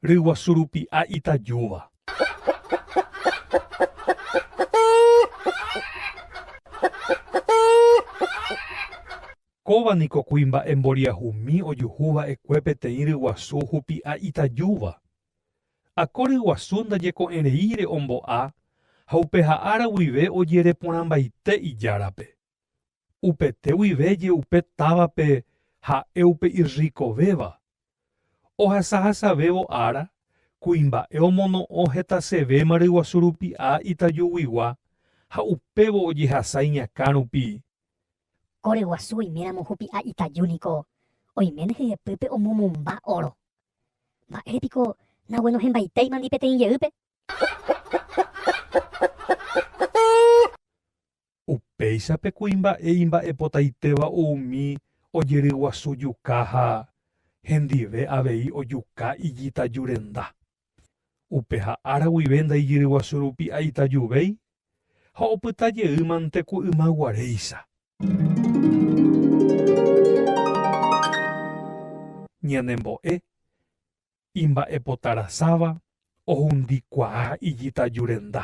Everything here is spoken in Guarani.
Ryguasu rupi'a itajúva. Kóva niko kuimba'e mboriahumi ojuhu va'ekue peteĩ ryguasu hupi'a itajúva. Akóry guasu ndajeko'ẽreíre ombo'a ha upeha ára guive ojereporãmbaite ijárape. Upete guive je'upe távape ha'e upe irrikovéva. Ohasahasavévo ára, kuimba'e omono'õ hetasevéma ryguasu rupi'a itajuguigua ha upévo ojehasa iñakã rupi. Ore guasu oiméramo hupi'a itaju niko oiméne hyepýpe omomomba óro. Mba'ére piko naguenohẽmbaitéimandi peteĩ jeýpe? Upéicha pe kuimba'e imba'epotaitéva umi ojeryguasu juka ha hendive avei ojuka ijitajurenda. Upeha ára guive ndaijyryguasu rupi aitajuvéi ha opyta jeýmante ku yma guaréicha. Ñanembo'e, imba'epotarasáva ohundi kuaa ijitaju renda.